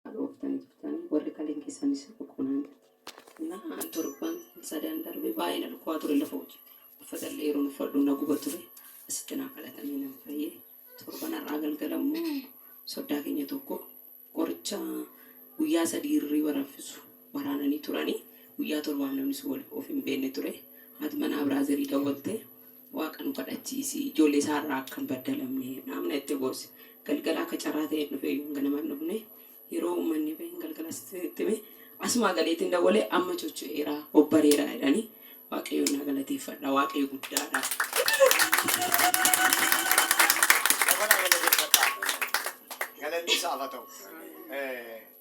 Dhalooftan jirtanii warri kaliin keessanis boqonnaan jirti. Na torban sadan darbe baay'ee na dhukkubaa ture lafa hojii. Uffata illee yeroo uffadhu na guba ture. Asitti naa kadhatamee nan fayyee. Torban har'aa galgala immoo soddaa keenya tokko qoricha guyyaa sadii hirriba raffisu waraananii turanii guyyaa torbaaf namni sun wal of hin beekne ture. Haati manaa biraazerii dawwaltee Waaqa nu kadhachiisi. Ijoollee isaa irraa akka hin baddalamne naamna itti goose. Galgala akka carraa ta'een dhufe iyyuu ganama hin dhufne. Yeroo uummanni bahin galgala itti hime. Asumaa galeetiin dawwalee amma chocho'eera, obbareera jedhanii Waaqayyoon naa galateeffadha. Waaqayyo guddaadha. Dabalaa galateeffadhaa. Galanni isaaf haa ta'u.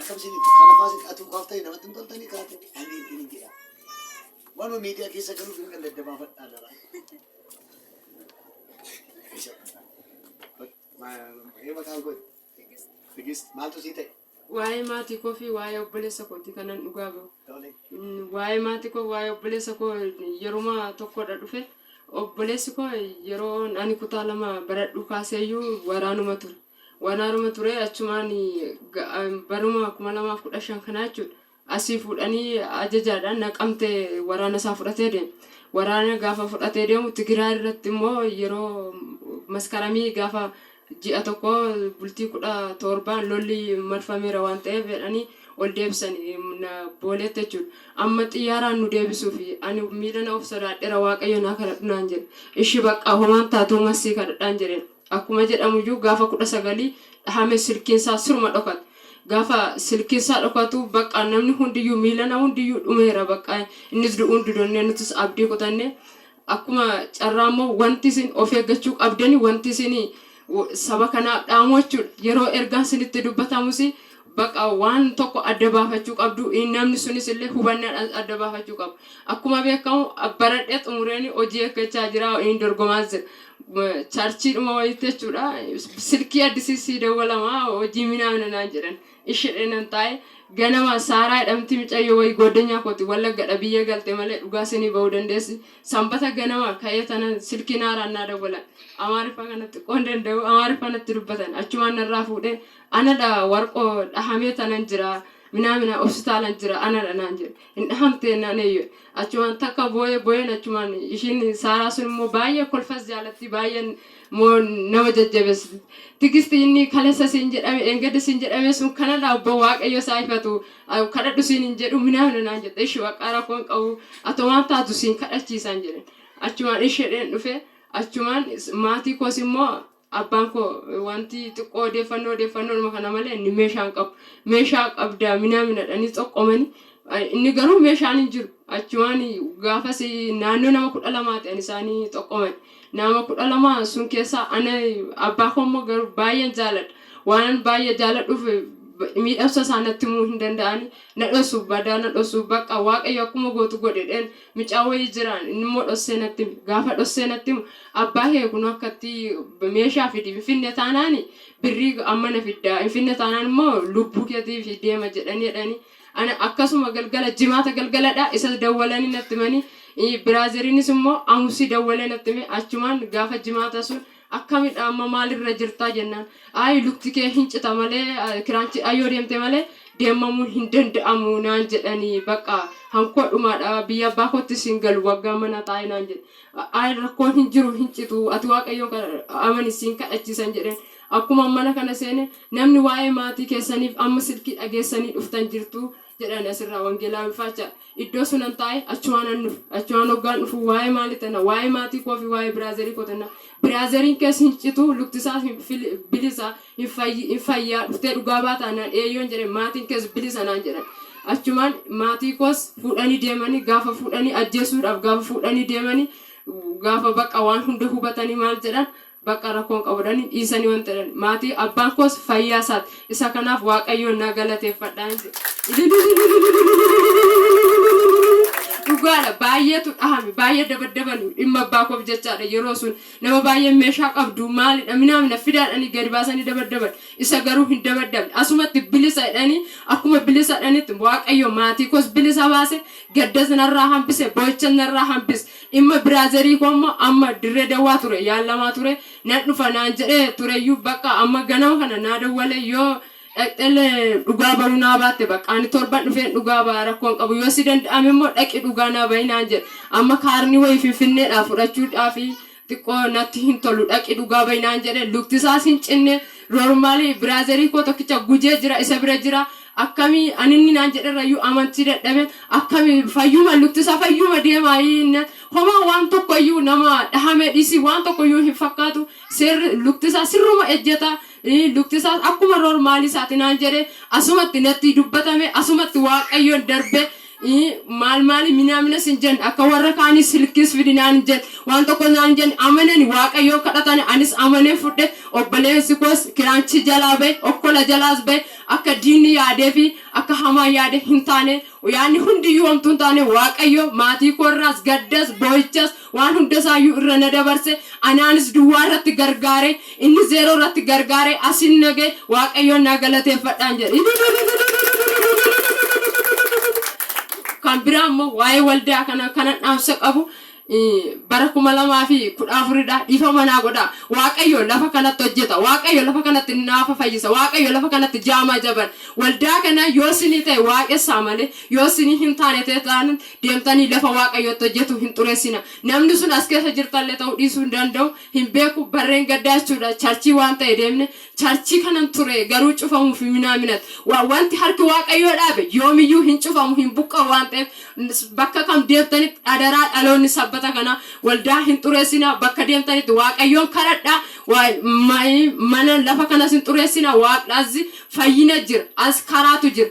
Akkam isin kana faasi atuu kaaftanii namatti hin toltanii kaate ani ittiin hin jedha. Waanuma miidiyaa keessa galuuf hin ganda dabaafadhaa dara. Ee maqaan koo Tigist maaltu sii ta'e? Waa'ee maatii koo fi waa'ee obboleessa kooti kanan dhugaa bahu. Tole. Mm, Waa'ee maatii koo waa'ee obboleessa koo yeruma tokkodha dhufe. Obboleessi koo yeroo ani kutaa lama baradhu kaaseeyyuu waraanuma ture. Waan haaruma ture achumaan baruma 2015 kanaa jechuudha. Asii fuudhanii ajajaadhaan naqamte waraana isaa fudhatee deema. Waraana gaafa fudhatee deemu Tigiraa irratti immoo yeroo maskaramii gaafa ji'a tokko bultii kudha torbaan lolli marfameera waan ta'eef jedhanii ol deebisan booleetti jechuudha. Amma xiyyaaraan nu deebisuuf ani miila na of sodaadheera waaqayyo naa kadhadhu naan jedhe. Ishi baqqaa homaan taatuu masii kadhadhaan jedheen. Akkuma jedhamu iyyuu gaafa 19 dhahame silkiin isaa siruma dhokate. Gaafa silkiin isaa dhokatu baqqaa namni hundiyyuu miilana hundiyyuu dhumeera baqqaa innis du'uun didonnee nutis abdii kutanne. Akkuma carraa immoo wanti isin of eeggachuu qabdani wanti isin saba kanaaf dhaamu jechuudha. Yeroo ergaan isinitti dubbatamus Baqa waan tokko adda baafachuu qabdu, namni sunis illee hubannaadhaan adda baafachuu qaba. Akkuma beekamu baradhee xumureen hojii eeggachaa jira, dorgomaas jira. Charchiidhuma wayiitti jechuudha. Silkii addisii sii dawwalama hojii minaa mina naan jedhan. Ishidhee nan taa'e. Ganama Saaraa jedhamti micayyoo wayii gooddanyaa kooti Wallaggadha biyya galte malee dhugaa sinii ba'uu dandeessi. Sanbata ganama ka'ee tanan silkiin haaraan naa dawwalan. Amaariffa kana xiqqoon danda'u Amaariffa natti dubbatan. Achumaan narraa fuudhee Anadha warqoo dhahamee tanan jira minaamina hospitaalan jira anadha naan jedhe hin dhahamtee naan eeyyee achumaan takka booyee booyeen achumaan ishiin saaraa sun immoo baay'ee kolfas jaalatti baay'een immoo nama jajjabeessiti tigisti inni kaleessa siin jedhame eengedda siin jedhame sun kanadha abboo waaqayyo isaa ifatu ah, kadhadhu siin hin jedhu minaamina naan jette ishi baqqaa rakkoo hin qabu atomaan taatu siin kadhachiisaan jedhen achumaan ishedheen dhufe achumaan is- maatii koos immoo Abbaan koo wanti xiqqoo odeeffannoo odeeffannoodhuma kana malee inni meeshaa hin qabu. Meeshaa qabdaa minaa minadhanii xoqqomani. Inni garuu meeshaan hin jiru. Achumaan gaafas naannoo nama kudha lamaati ani isaanii xoqqoman. Nama kudha lama sun keessaa ana abbaa koo immoo garuu baay'een jaaladha. Waan baay'ee jaaladhuuf miidhamsa isaa natti himuu hin danda'ani. Na dhosu badaa na dhosu bakka waaqayyo akkuma gootu godhedheen Mucaa wayii jiraan innimmoo dhossee natti hime. Gaafa dhossee natti himu abbaa kee kunoo akkatti meeshaa fidi hin fidne taanaan birrii amma na fiddaa hin fidne taanaan immoo lubbuu keetiif deema jedhanii jedhanii ana akkasuma galgala jimaata galgaladha isa dawwalanii natti himanii biraazeriinis immoo amusii dawwalee natti hime achumaan gaafa jimaata sun Akkamidha amma maal irra jirtaa jennaan ayi lukti kee hin cita malee kiraanchi ayyoo deemte malee deemmamuun hin danda'amu naan jedhani bakka hankoo dhumaadha biyya abbaa koottis hin galu waggaa mana taa'e naan jedhe ayi rakkoon hin jiru hin citu ati waaqayyoon amani siin kadhachiisan jedheen akkuma mana kana seene namni waa'ee maatii keessaniif amma silkii dhageessanii dhuftan jirtu jedhan asirraa wangeelaa wifaachaa Iddoo sunan taa'e achuwaanan dhufe. Achuwaan hoggaan dhufu waa'ee maali tana, waa'ee maatii koo fi waa'ee biraazerii koo tana. Biraazeriin kees hin citu, lukti isaas hin fil- bilisa, hin fayyi- hin fayyaa, dhuftee dhugaa baataa naan eeyyoon jedhe maatiin kees bilisa naan jedhan. Achumaan maatii koos fuudhanii deemanii gaafa fuudhanii ajjeesuudhaaf gaafa fuudhanii deemanii gaafa bakka waan hunda hubatanii maal jedhan Baqqa rakkoon qabu jedhani dhiisani wanta jedhani maatii abbaan koos fayyaa isaati isa kanaaf waaqayyoon na galateeffadha hin jedhu. Dhugaadha baay'eetu dhahame baay'ee dabaddabani dhimma abbaa koof jechaadha yeroo sun nama baay'ee meeshaa qabdu maalidha minaamina fidaadhani gadi baasanii dabaddaban isa garuu hin dabaddabne asumatti bilisa jedhani akkuma bilisa jedhanitti waaqayyo maatii koos bilisa baase gaddas narraa hambise boo'ichas narraa hambise Dhimma biraazerii koo immoo amma Dirree Dawwaa ture yaallamaa ture nan dhufa naan jedhee tureyyuu baqqa amma ganama kana naa dawwalee yoo dhaqxellee dhugaa bahuu naa baatte baqqa ani torban dhufeen dhugaa baha rakkoo hin qabu yoo si danda'ame immoo dhaqi dhugaa naa bahi naan jedhe amma kaarni wayii finfinneedhaa fudhachuudhaafi xiqqoo natti hin tolu dhaqi dhugaa bahi naan jedhe luktisaas hin cinne roormaalii biraazerii koo tokkicha gujee jira isa bira jira akkami ani inni naan jedherrayyuu amantii dadhaben akkami fayyuma lukti isaa fayyuma deemaa inni homaa waan tokkoyyuu nama dhahamee dhiisii waan tokkoyyuu hin fakkaatu seerri lukti isaa sirruma ejjeta ii, lukti isaas akkuma roormaalii isaati naan jedhe asumatti natti dubbatame asumatti waaqayyoon darbe ii maal maali minaamina sin jen akka warra kaanii silkiis fidi naan hin jen waan tokko naan hin jen amanani waaqayyoon kadhatani anis amaneen fudhe obboleessi koos kiraanchii jalaa ba'e okkola jalaas ba'e akka diinni yaadee fi akka hamaan yaade hin taane yaanni hundiyyuu homtuu hin taane waaqayyo maatii koo irraas gaddas boo'ichas Waan hunda isaayyuu irra na dabarse, anaanis duwwaa irratti gargaare, inni zeeroo irratti gargaare, asin na ga'e, Waaqayyoon naa galateeffadhaan jedhe. Kan biraa immoo waa'ee waldaa kana kanan dhaamsa qabu bara 2014 dha. Dhiifama naa godhaa. Waaqayyo lafa kanatti hojjeta. Waaqayyo lafa kanatti naafa fayyisa. Waaqayyo lafa kanatti jaamaa jaban. Waldaa kana yoo sinii ta'e waaqessaa malee yoo sinii hin taane ta'e taanaan deemtanii lafa Waaqayyo itti hojjetu hin xureessina. Namni sun as keessa jirtallee ta'uu dhiisuu hin danda'u. Hin beeku barreen gaddaa jechuudha. Charchii waan ta'e deemne charchii kanan ture garuu cufamuuf hin minaaminat. Wa- Wanti harki Waaqayyoo dhaabe yoomiyyuu hin cufamu hin buqqa'u waan ta'eef s- bakka kam deemtanitti adaraa dhaloonni sabbata kana waldaa hin xureessina. Bakka deemtanitti Waaqayyoon kadhadhaa. Wa- ma- Mana lafa kanas hin xureessina. Waaqni as fayyina jira. As karaatu jira.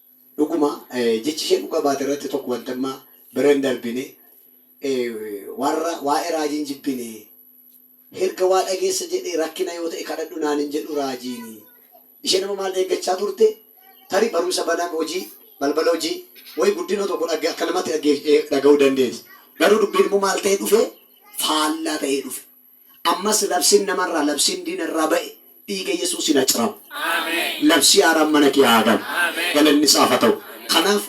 Dhuguma jechi ishee dhuga baate irratti tokko wanti amma bira hin darbine warra waa'ee raajii hin jibbine herga waa dhageessa jedhe rakkina yoo ta'e kadhadhu naan hin jedhu raajiini isheen amma maal eeggachaa turte tarii barumsa baname hojii balbala hojii wayi guddina tokko dhagge akka namatti dhagge dhaga'uu dandeessa garuu dubbiin immoo maal ta'ee dhufe faallaa ta'ee dhufe Ammas labsiin nama irraa, labsiin diina irraa ba'e dhiiga Yesuusiin haa ciramu. Labsii haaraan mana kee haa galu. Galanni isaaf haa ta'u. Kanaaf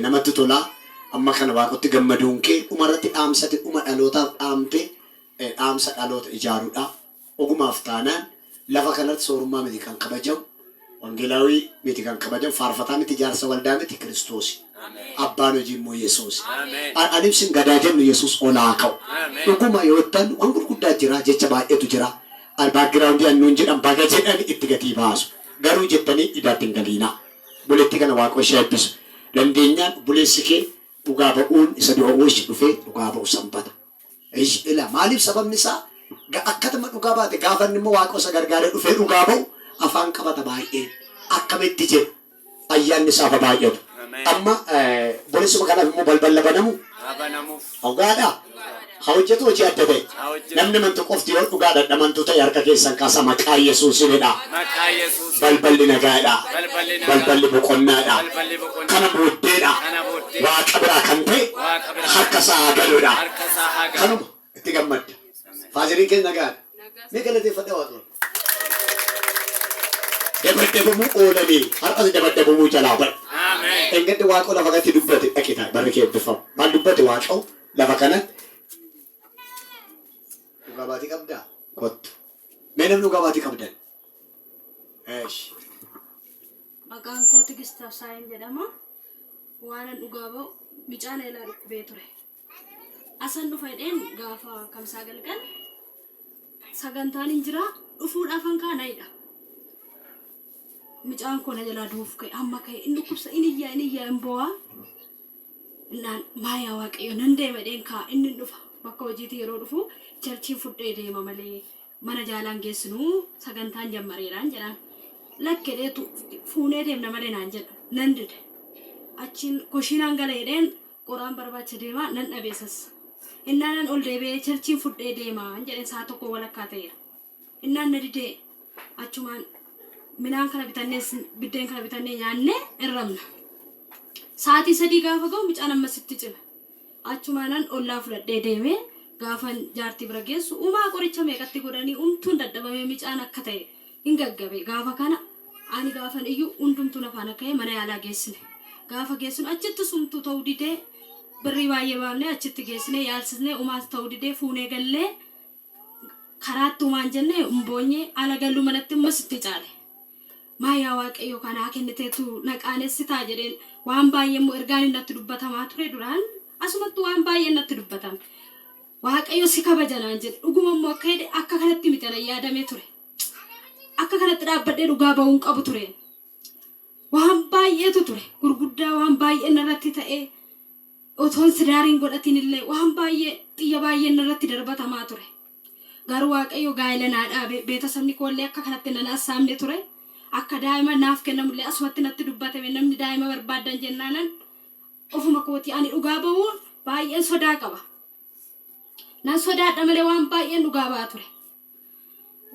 namatti tola amma kana Waaqotti gammaduun kee. Dhuma irratti dhaamsa ati dhuma dhalootaaf dhaamte dhaamsa dhaloota ijaaruudha. Ogumaaf taanaan. Lafa kanarratti soorummaa miti kan kabajamu, Wangelaawii miti kan kabajamu, faarfataa miti, jaarsa waldaa miti, Kiristoosi. Abbaan hojii immoo Yesuusi. An, an ibsin gadaa jennu Yesuus ol haa ka'u. Dhuguma yoo ittan waan gurguddaa jira, jecha baay'eetu jira. Al background an nuun jedhan baga jedhani itti gatii baasu. Garuu jettanii idaatti hin galiinaa. Obboleettii kana Waaqoo ishee haa ebbisu. Dandeenyaan obboleessi kee dhugaa ba'uun isa dura oolche dhufee dhugaa ba'u Sanbata. Eyy ila maalif sababni isaa ga akkatma dhugaa baate gaafa inni immoo waaqoo isa gargaaree dhufee dhugaa ba'u afaan qabata baay'een akkamitti jedhu ayyaanni isaaf ha baay'atu amma borisuma kanaaf immoo balballa banamu dhugaadha ha hojjetu hojii adda ta'e namni mantu qofti yoo dhugaadha dhamantuu ta'e harka keessan kaasa maqaa yesuusin jedha Balballi nagaadha. Balballi boqonnaadha. Kana booddeedha. Waaqa biraa kan ta'e harka isaa haa galuudha. Kanuma. Itti gammadda. Faazeriin kees nagaadha. Mee galateeffadhaa Waaqayyoon. Dabaddabamuu oolanii har'as dabaddabamuu jalaa ba'u. Dheengadda Waaqoo lafa kanatti dubbate dhaqii taa'i. Barri kee eebbiffama. Maal dubbate Waaqoo lafa kanatti? Dhugaa baatii qabdaa? Kottu. Mee namni dhugaa baatii qabdan Eesh. Maqaan koo Tigist Absaayin jedhama. Waanan dhugaa ba'u micaan eelaa dhukkubee ture. Asan dhufa jedheen gaafa kamsaa galgal sagantaan hin jira dhufuudhaafan kaanayidha. Micaan koo na jalaa du'uuf ka'e amma ka'e inni dhukkubsa inni iyyaa inni iyyaa hin boo'aa. Innaan maayaa waaqayyo nan deema jedheen kaa inni hin dhufa. Bakka hojiitii yeroo dhufu charchiin fudhee deema malee Mana jaalaan geessinu sagantaan jammareeraan jedhaan. Lakke jedheetu fuunee deemna malee naan jedha. Nan dide. Achiin koshiinaan gala jedheen qoraan barbaacha deemaa nan dhabe isas. Innaanan ol deebi'ee cherchiin fudhee deemaan jedheen sa'a tokkoo walakkaa ta'eera. Innaan na didee achumaan midhaan kana bitannee biddeen kana bitannee nyaannee irramna. Sa'aatii sadii gaafa ga'u mucaan ammasitti cime. Achumaanan ollaa fudhadhee deeme. Gaafan jaartii bira geessu umaa qoricha meeqatti godhanii umtuun dadhabamee micaan akka ta'e hin gaggabe. Gaafa kana ani gaafan iyyu hundumtuu na faana ka'ee mana yaalaa geessine. Gaafa geessinu achittis umtuu ta'uu didee birrii baay'ee baafnee achitti geessinee yaalsisnee umaas ta'uu didee fuunee gallee Karaa tumaan jenne mboonye ala galuu manatti immoo sitti caale. Maa yaa waaqayyo kanaa kenniteetu na qaanessitaa jedheen waan baay'ee immoo ergaan natti dubbatamaa ture duraan asumatti waan baay'ee natti dubbatame. Waaqayyo si kabaja naan jedhe dhuguma immoo akka jedhe akka kanatti miti ana yaadamee ture. Akka kanatti dhaabbadhee dhugaa ba'uun qabu ture. Waan baay'eetu ture. Gurguddaa waan baay'een narratti ta'ee otoon sidaariin godhatiin illee waan baay'ee xiyya baay'een narratti darbatamaa ture. Garuu Waaqayyo gaa'ela naa dhaabe. Beetasabni koo illee akka kanatti nan assaabne ture. Akka daa'ima naaf kennamu illee asumatti natti dubbatame namni daa'ima barbaaddan jennaanan ofuma kootii ani dhugaa ba'uun baay'een sodaa qaba. Nan sodaadha malee waan baay'een dhugaa ba'a ture.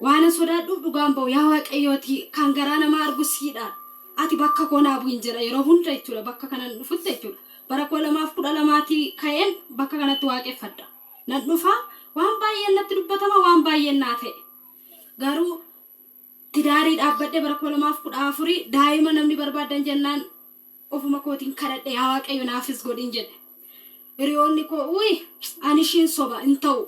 Waanan sodaadhuuf dhugaan ba'u yaa waaqayyooti kan garaa namaa argu siidha. Ati bakka koo naa bu'in jedha yeroo hunda jechuudha bakka kanan dhufutti jechuudha. Bara koo lamaaf kudha lamaatii ka'een bakka kanatti waaqeffadha. Nan dhufa waan baay'een natti dubbatama waan baay'een naa ta'e. Garuu tidaarii dhaabbadhee bara koo lamaaf kudha afurii daa'ima namni barbaadan jennaan Ofuma kootiin kadhadhe yaa waaqayyo naafis godhin jedhe. Hiriyoonni koo uyi ani ishiin soba hin ta'u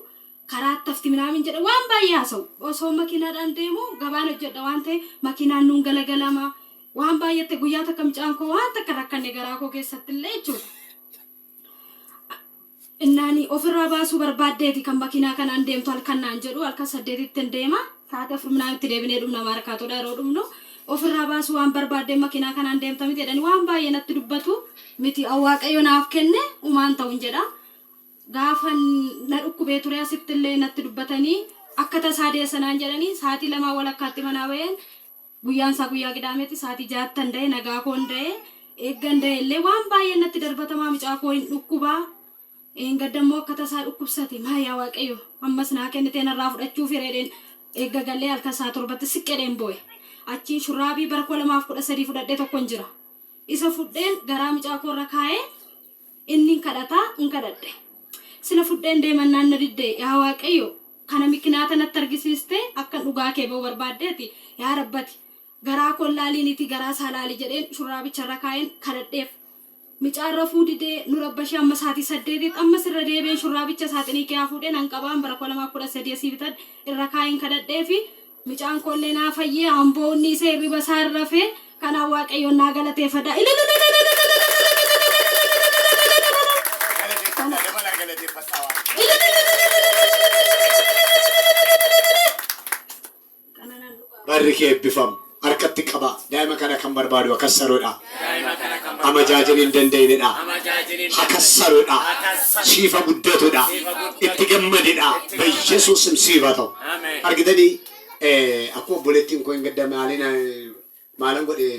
karaa attafti minaamin jedhe waan baay'ee haasa'u. Osoo makiinaadhaan deemu gabaan hojjedha waan ta'e makiinaan nuun galagalama. Waan baay'eetti guyyaa takka mucaan koo waan takka rakkanne garaa koo keessatti illee jechuudha. Innaani ofirraa baasuu barbaaddeeti kan makiinaa kanaan deemtu halkan naan jedhu halkan saddeetittin deema sa'aatii afur minaan itti deebinee dhumna maarkaatoodha yeroo dhumnu ofirraa baasuu waan barbaaddeen makiinaa kanaan deemta miti jedhanii waan baay'ee natti dubbatu miti waaqayyo naaf kenne umaan ta'un jedha gaafan na dhukkubee ture asitti illee natti dubbatanii akka tasaa deessa naan jedhanii sa'aatii lamaa walakkaatti manaa ba'een Guyyaan isaa guyyaa Qidaameti saatii ja'attan da'e nagaa koon da'e eeggan da'e illee waan baay'een natti darbatamaa mucaa koo hin dhukkubaa eengadda immoo akka tasaa dhukkubsate maa yaa waaqayyo ammas naa kennitee narraa fudhachuu fireedheen eegga gallee halkan isaa torbatti siqqedheen boo'e achiin shurraabii bara 2013 fudhadhee tokkon jira Isa fudheen garaa micaa koo irra kaa'e, innin kadhata, in kadhadhe. Sila fudheen deemannaan na didde, yaa Waaqayyo, kana mikinaata natti argisiiste, akkan dhugaa kee ba'u barbaaddeeti, yaa Rabbati, garaa koo laaliiniitii garaa isaa laali jedheen shurraabicha irra kaa'een kadhadheef. Micaan rafuu didee, nu rabbashee amma saatii saddeetiitti, ammas irra deebi'een shurraabicha saaxinii keeyaa fuudhee nan qabaan bara 2013 asii bitadhe irra kaa'een kadhadheefi, Mucaan koo illee naa fayyee amboo unniisee hirriba isaa hin rafee kanaan waaqayyoon naa galateefadha. Galateeffadhaa dabalaa galateeffadhaa waaqayyoon. Barri kee eebbifam. Harkatti qabaa. Daa'ima kana kan barbaadu akkas saroodha. Daima kana kan barbadu. Amajajin hin dandaini dha. Amajajin hin dandaini. Hakassaru dha. Hakassaru. Siif ha guddatu dha. Siif ha guddatu. Itti gammadi dha. Itti gammadi. Beyesus sim siif ha ta'u. Amen. Argitanii? Akkuma obboleettiin koo hin gadda maaliin maalan godhe